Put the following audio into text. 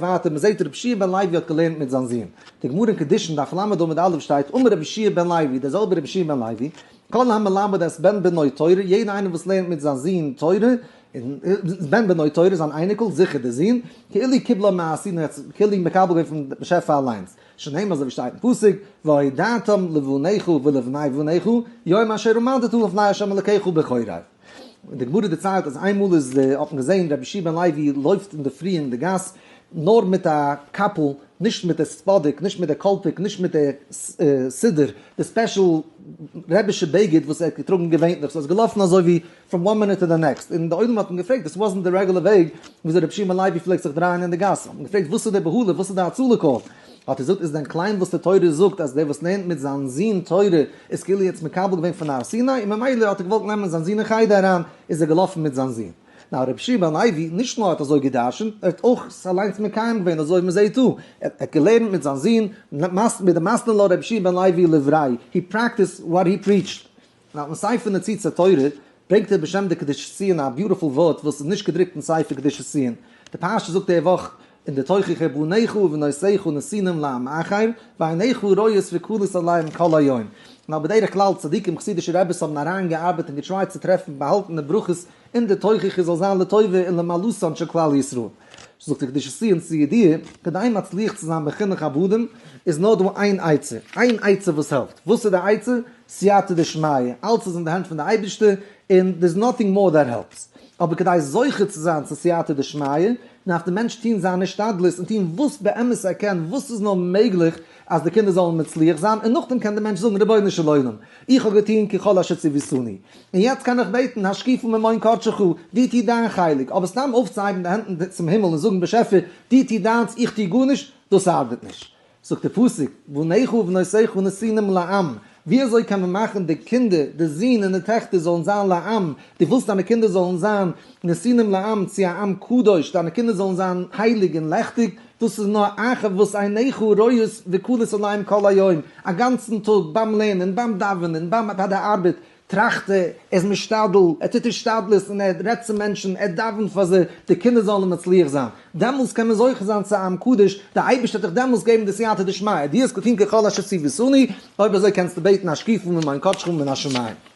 ווייטער מען זעט רבי שיע בן לוי האט געלערנט מיט זיין זון, די גמרא אין קדושין דף ל עמוד א' שטייט אמר רבי שיע בן לוי, דער זעלבער רבי שיע בן לוי, כל המלמד את בן בנו תורה, יעדער איינער וואס לערנט מיט זיין זון תורה, את בן בנו תורה, זיין אייניקל, זיכער דער זון, כאילו קיבלה מעשינו העצם, כאילו איז מקבל געווארן פון באשעפער אליינס, שנאמר אזוי ווי שטייט אין פסוק, והודעתם לבניך ולבני בניך, יום אשר עמדתו לפני ה' אלקיך בכורי. די גמרא דערציילט אז איינמאל איז די האט מען געזעהן רבי שמעון לעווי לויפט אינדערפרי אין די גאס נאר מיט א קאפל נישט מיט די ספאדיק נישט מיט די קאלפיק נישט מיט די סידור די ספעשל רעבישע בגד וואס ער האט געטראגן געווענטליך סאו ער איז געלאפן אזוי ווי פראם וואן מינוט טו די נעקסט און די עולם האט אים געפרעגט דאס וואזנט די רעגולער וועג וויאזוי רבי שמעון לעווי פלעגט זיך דרייען אין די גאס האט מען געפרעגט וואס איז די בהלה וואס איז די הצלה קאל האט ער געזאגט איז דען קליין וואס די תורה זאגט אז דער וואס לערנט מיט זיין זון תורה איז כאילו יעצט מקבל געווען פון הר סיני און ממילא האט ער געוואלט נעמען זיין זון אין חדר אריין איז ער געלאפן מיט זיין זון. נאר רבי שמעון לוי נישט נאר האט אזוי גע'דרש'נט ער האט אויך עס אליינס מקיים געווען אזוי ווי מען זעהט דא ער האט געלערנט מיט זיין זון מיט די מסנ ל רבי שמעון לוי he practiced what he preached און אויפן ספר נוצצי תורה ברענגט ער בשם די קדושת ציון א ביוטיפול ווארט וואס איז נישט געדרוקט אין ספר קדושת ציון, די פרשה זאגט די וואך אין די תוכחה בניך ובנותיך נסינים לעם אחר ועיניך רואות וכלות עליהם כל היום, ווייל בדרך כלל צדיקים חסידישע רביס האבן אריין געארבעט און געטרייט צו טרעפן באהאלטענע ברכות אין די תוכחה זאל זיין לטובה און למעלתן של כלל ישראל. זאגט די קדושת ציון צו ידיעה, כדי מצליח צו זיין בחינוך עבדים, איז נאר דא איין עצה, איין עצה וואס העלפט, וואס איז די עצה? סייעתא דשמיא, אלץ איז אין די הענט פון די אייבערשטער, און דער איז נאטינג מאר דעט העלפס. אבער כדי זוכה צו זיין צו סייעתא דשמיא, דארף דער מענטש טון זיין השתדלות, און טון וואס באמת ער קען, וואס איז נאר מעגליך, אז די קינדער זאלן מצליח זיין, און נאכדעם קען דער מענטש זאגן רבונו של עולם, איך האב געטון ככל אשר ציוויתני, און יעצט קען איך בעטן השקיפו ממעון קדשך, דו טו דיין חלק, אבער סתם אויפצוהייבן די הענט צום הימל און זאגן באשעפער, דו טו דיינס, איך טו גארנישט, דאס ארבעט נישט. זאגט דער פסוק, בניך ובנותיך נשיאים לעם, ווי אזוי קען מען מאכן די קינדער, די זין און די טעכטער זאלן זיין לעם, דו ווילסט דיינע קינדער זאלן זיין נסינים לעם צו א עם קדוש, דיינע קינדער זאלן זיין הייליג און לעכטיג, דאס איז נאר אחר וואס עיניך רואות וקלות עיניים כל היום, א גאנצן טאג ביים לערנען, ביים דאווענען, ביים ביי די ארבעט, טראכט ער, ער איז משתדל, ער טוט השתדלות און ער רעדט צו מענטשן, ער דאווענט פאר זיי, די קינדער זאלן מצליח זיין. דעמאלס קען מען זוכה זיין צו א עם קדוש, דער אייבערשטער וועט דיך דעמאלס געבן די סייעתא דשמיא, די זקוקים ככל אשר ציוויתני, אויב אזוי קענסטו בעטן השקיפו ממעון קדשך ומן השמים.